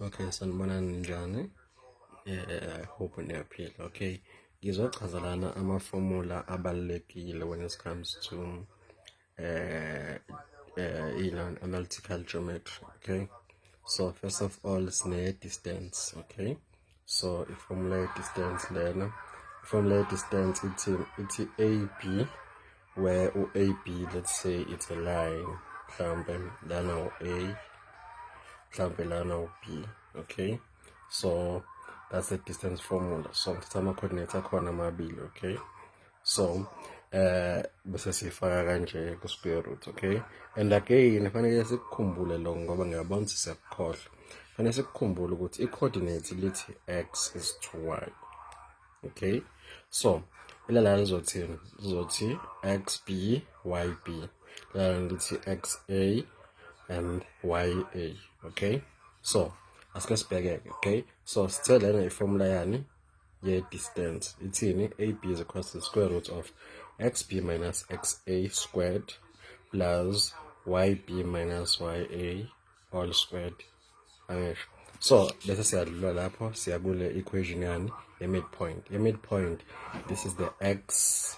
Okay, sanibona ninjani? Eh, I hope niyaphila. Okay. Ngizochaza lana ama-formula abalulekile when it comes to eh eh ilan analytical geometry, okay? So first of all sine distance, okay? so i-formula ye-distance lena i-formula ye-distance ithi ithi ab where u-ab let's say it's a line mhlawumbe lana u-a mhlawumbe lana u-b okay so that's the distance formula so ngithatha ama-coordinates akhona amabili okay so eh bese sifaka kanje ku square root okay and again fanele sikukhumbule lo ngoba ngiyabona ukuthi siyakukhohlwa fanele sikukhumbule ukuthi i coordinate lithi x is to y okay so ilala lizothini lizothi xb yb lala lithi xa and ya okay so asike sibheke-ke okay so sithe lena iformula yani ye-distance ithini ab is equal to the square root of xb minus xa squared plus yb minus ya all squared angisho so bese siyadlula lapho siya kule equation yani ye-midpoint ye-midpoint this is the x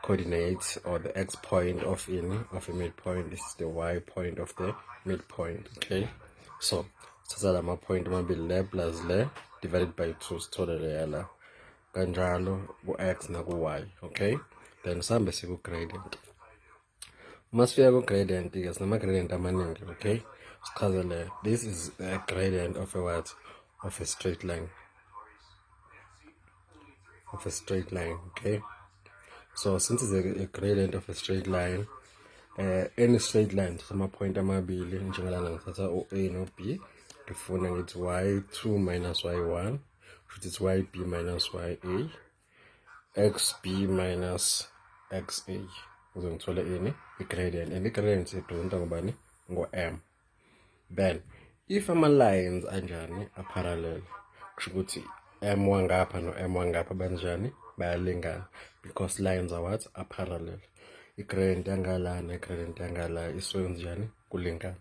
coordinates or the x point of in of a midpoint this is the y point of the midpoint okay so sithatha la mapoint amabili le plus le divided by 2 sithole leya la kanjalo ku-x naku-y okay then sihambe siku-gradient uma sifika ku-gradient ke sinama-gradient amaningi okay sichazele this is a gradient of a what of a straight line of a straight line okay so since it's a, a gradient of a straight line uh, any straight line samapoint amabili njengalana ngithatha u-a no-b ngifuna ngithi y2 minus y1 kusho ukuthi y b minus y a xb minus xa uze ngithole ini i-gradient and i-gradient representa ngobani ngo-m then if ama-lines anjani aparallel kusho ukuthi m wangapha no-m wangapha banjani bayalingana because lines are what aparallel i-gradient yangalana i-gradient yangala iswenzenjani kulingana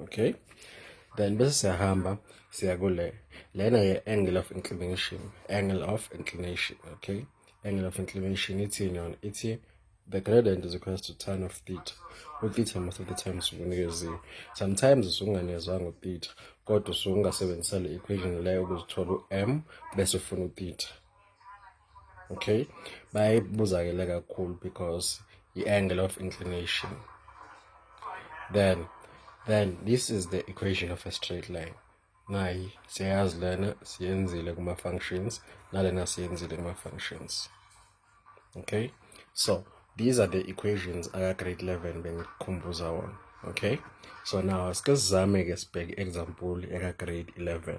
Okay. Then bese siyahamba siya kule lena ye angle of inclination, angle of inclination, okay? Angle of inclination ithini yona? Ithi the gradient is equal to tan of theta. Utheta most of the time usunikeziwe. Sometimes usunganezwanga utheta kodwa usungasebenzisa le equation leyo ukuzithola u-m bese ufuna utheta. okay bayibuzakele kakhulu because i-angle of inclination then then this is the equation of a straight line nayi siyayazi lena siyenzile kuma-functions nalena siyenzile kuma-functions okay so these are the equations aka-grade 11 bengikhumbuza wona okay so now asike sizame-ke sibheke i-example eka-grade 11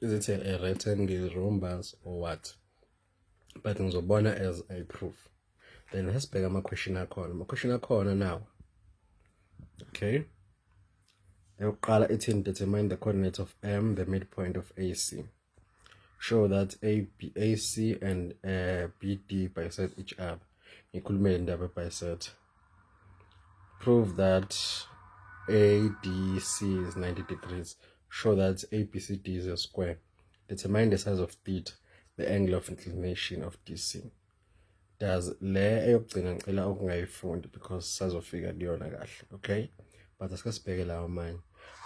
is it a, a rectangle rhombus or what but ngizobona as a proof then asibheke ama-question akhona ama-question akhona nawo okay eyokuqala ithini determine the coordinates of m the midpoint of ac show that a, B, ac and uh, bd bisect each other ngikhulumele indaba ebiset prove that ADC is 90 degrees. Show that ABCD is a square. Determine the size of theta, the angle of inclination of DC. Does le eyokugcina ngicela ukungayifundi because sazofika kuyona kahle, okay? But asike sibheke lawo manje.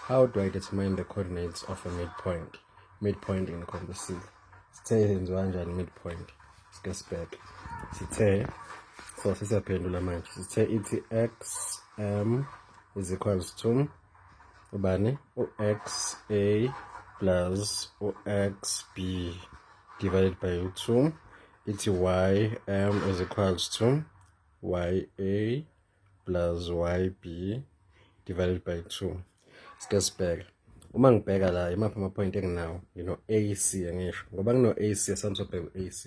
How do I determine the coordinates of a midpoint? Midpoint in composite. sithe yenziwa kanjani midpoint sike sibheke sithe so sisiyaphendula manje sithe ithi x m is equals to ubani u-x a plus u-x b divided by u-2 ithi y m is equals to y a plus yb divided by 2 sike sibheke uma ngibheka la imaphi ama-point enginawo ngino-ac angisho ngoba ngino-ac esangisobheka u-ac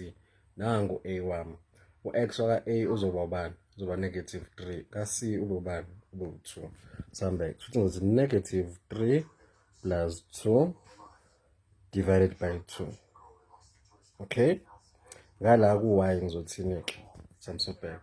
nangu a wami u-x waka-a uzoba ubani uzoba negative 3 ka-c ube ubani ube u-2 sihambeke futhi ngithi negative 3 plus 2 divided by 2 okay ngala ku-y ngizothini-ke samsobheka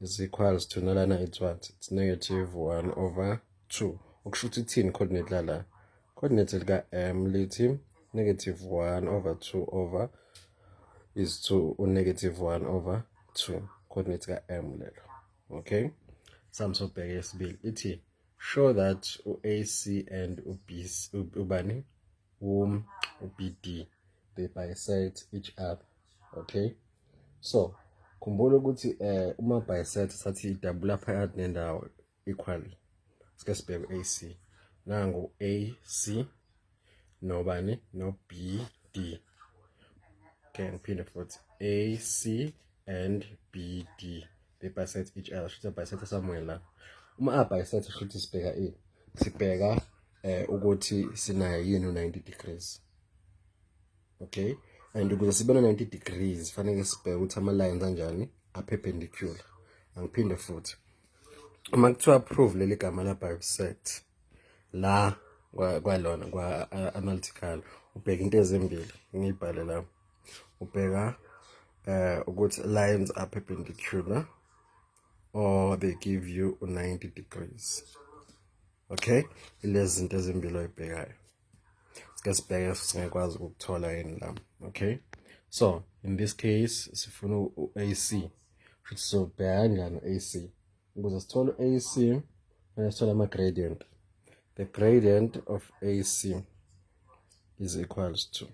is equals to nalana it's what it's negative 1 over 2 okusho ukuthi ithini coordinate lala coordinate lika m lithi negative 1 over 2 over is to unegative 1 over 2 coordinate ka m lelo okay sami sobheka yesibili ithi show that u-ac and ubc ubani um ubd they bisect each other okay so khumbula ukuthi eh uma by set sathi idabula phakathi nendawo equal sike sibheke AC nangu AC nobani no BD okay ngiphinde futhi AC and BD they bisect each other shuthi bisect somewhere la uma a bisect shuthi sibheka ini sibheka eh ukuthi sinayo yini 90 degrees okay and ukuze sibe na 90 degrees fanele sibheke ukuthi ama lines anjani a perpendicular angiphinde futhi uma kuthiwa approve leli gama la bisect la kwalona kwa analytical ubheka into ezimbili ngiyibhale la ubheka eh ukuthi lines are perpendicular or they give you 90 degrees okay lezi zinto ezimbili oyibhekayo sike sibheke singekwazi ukuthola yini la okay so in this case sifuna u-ac futhi sizobheka kanjani u-ac ukuze sithole u-ac fanele sithole ama-gradient the gradient of ac is equals to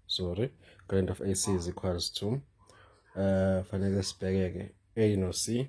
sorry gradient of ac is equals to uh fanele sibheke-ke a no c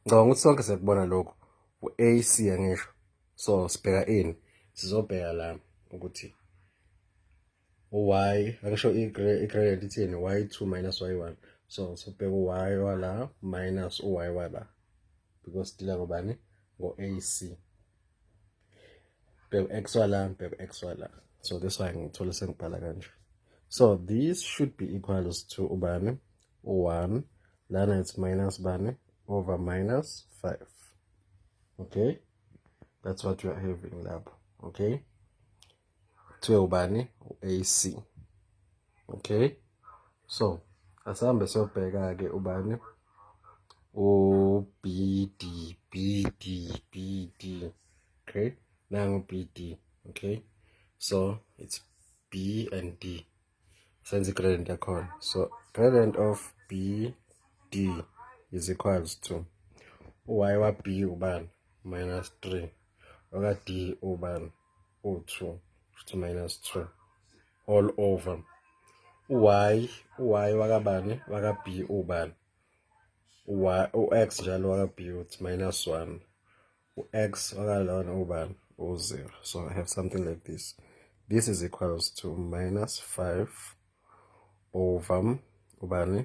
ngicabanga ukuthi sonke sekubona lokho u-ac angisho so sibheka ini sizobheka la ukuthi u-y angisho i-gradient ithini y two minus y one so sobheka u-y wala minus u-y wala because dila ngobani ngo-ac bheka exwa la bheka exwa la so this why ngithole sengibhala kanje so this should be equals to ubani u-1 lana it's minus bani over minus 5 okay that's what we are having lapho okay kuthiwe ubani u-AC okay so asihambe siyobheka-ke ubani uBD BD BD okay nangu BD okay so it's B and D senze i-gradient yakhona so gradient of BD is equals to y wa-B ubani minus 3 oka-D ubani u-2 shuthi minus 2 all over u-y u-y wakabani waka-b ubani u-x njalo waka-b uthi minus 1 u-x wakalona ubani u-0 so i have something like this this is equals to minus 5 over ubani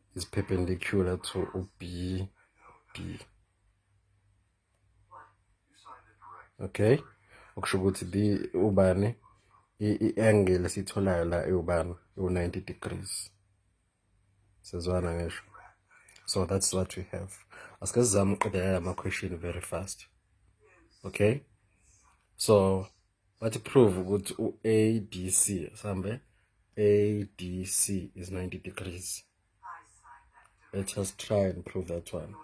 is perpendicular to uB B okay okusho ukuthi B ubani i-angle esitholayo la iwubani iwu-90 degrees sezwana ngisho so that's what we have asike sizame ukuqedelela ama-question very fast okay so Bathi prove ukuthi u-ADC sambe ADC is 90 degrees. Let us try and prove that one.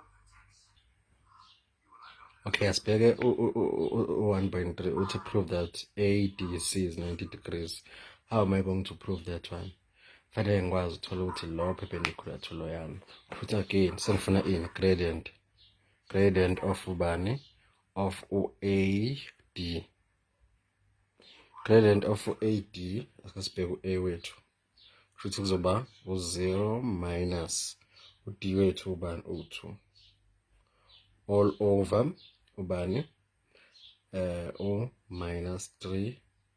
Okay, asibheke u-1.3 uthi prove that ADC is 90 degrees. How am I going to prove that one? Fanele ngikwazi uthola ukuthi lo perpendicular to lo yami. Put again, sengifuna ini gradient. Gradient of ubani? of u-AD. Gradient of u-AD ake sibheke u-A wethu. Kushuthi kuzoba u-0 minus u-D wethu ubani u-2 all over ubani eh u minus 3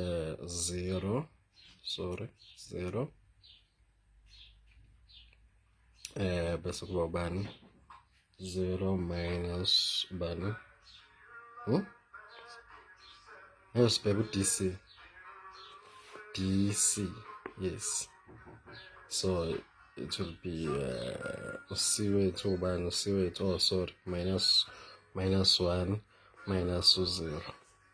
uh, zero sorry zero eh bese kuba ubani 0 minus ubani hmm? ayosibheka u-dc dc yes so it will be uh, uc wethu ubani uc wethu oh sorry minus minus 1 minus 0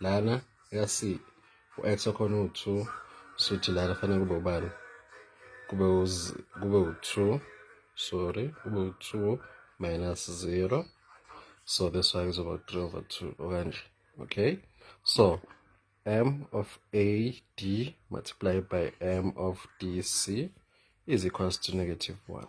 lana yasi u-x wakhona uwu-two suthi lana fanele kube ubani kube kube u-two sorry kube u-two minus zero so this one is about three over two okanje okay so m of a d multiplied by m of d c is equals to negative one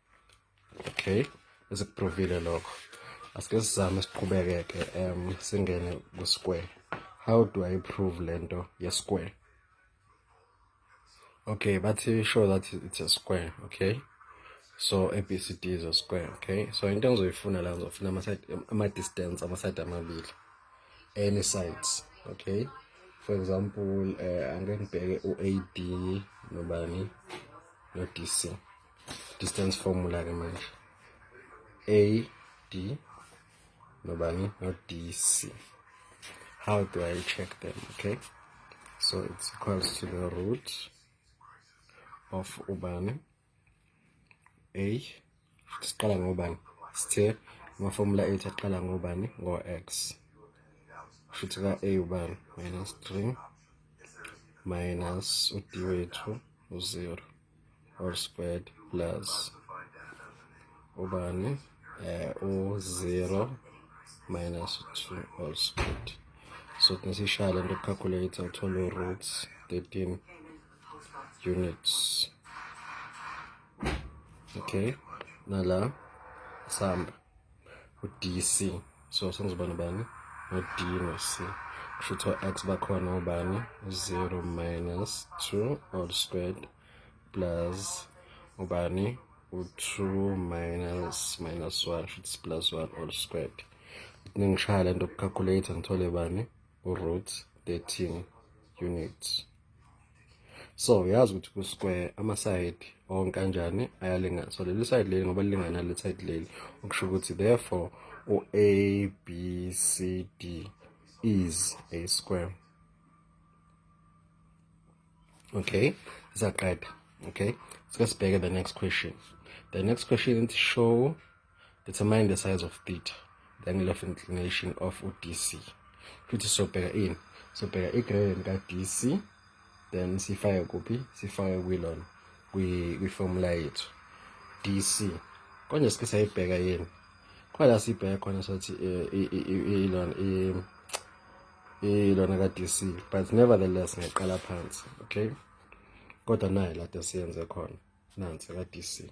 okay esikuprovile lokho asike sizame siqhubeke-ke um singene ku-square how do i prove le nto ye-square okay bathi show that it's a square okay so abcd is a square okay so into engizoyifuna la ngizofuna ama-distance ama-side amabili any sides okay for example uh, angeke ngibheke u-ad nobani no-dc distance formula ke manje a d nobani no d c how do i check them okay so it's equals to the root of ubani a siqala ngobani sithe ama-formula ethu aqala ngobani ngo-x shuthi ka-a ubani minus 3 minus u-d wethu u-0 or squared plus ubani eh u0 minus 2 all squared so kunesishaya lento calculator uthole roots 13 units okay nala samba udc so sengizoba nobani no-d no-c kusho ukuthi o-x bakhona ubani u-zero minus two all squared plus ubani u-two minus minus one kusho ukuthi plus one all squared ningishaya le nto kucalculator ngithole bani root 13 units so uyazi ukuthi ku-square amasayidi onke anjani ayalingana so leli sayidi leli ngoba lilingana leli sayidi leli okusho ukuthi therefore u-a b c d is a square okay saqeda okay sike sibheke the next question the next question ithi show determine the size of theta the angle of inclination of udc futhi sobheka ini sobheka i-gradient ka-dc then sifake kuphi sifake kwilona kwi-formula yethu dc konje sike sayibheka yini khona sibheke khona sothi eh, ilona ilona ka-dc but nevertheless ngiyaqala phansi okay kodwa naye lade siyenze khona nansi ka-dc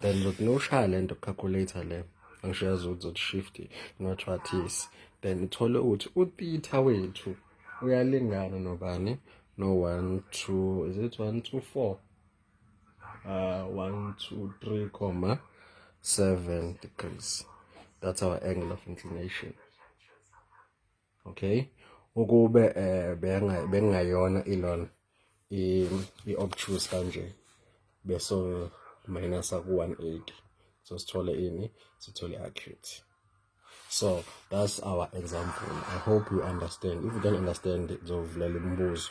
then ngizothi ngiyoshaya le nto calculator le angisho yazi ukuthi zothi shift nothiwathisi then uthole ukuthi uthitha wethu uyalingana nobani no one two is it one two four uh one two three comma seven degrees that's our angle of inclination okay ukube eh bengayona ilona i-obtuse kanje beso minus ku-180 so sithole ini sithole i-acute so that's our example i hope you understand if you don't understand zovulela imibuzo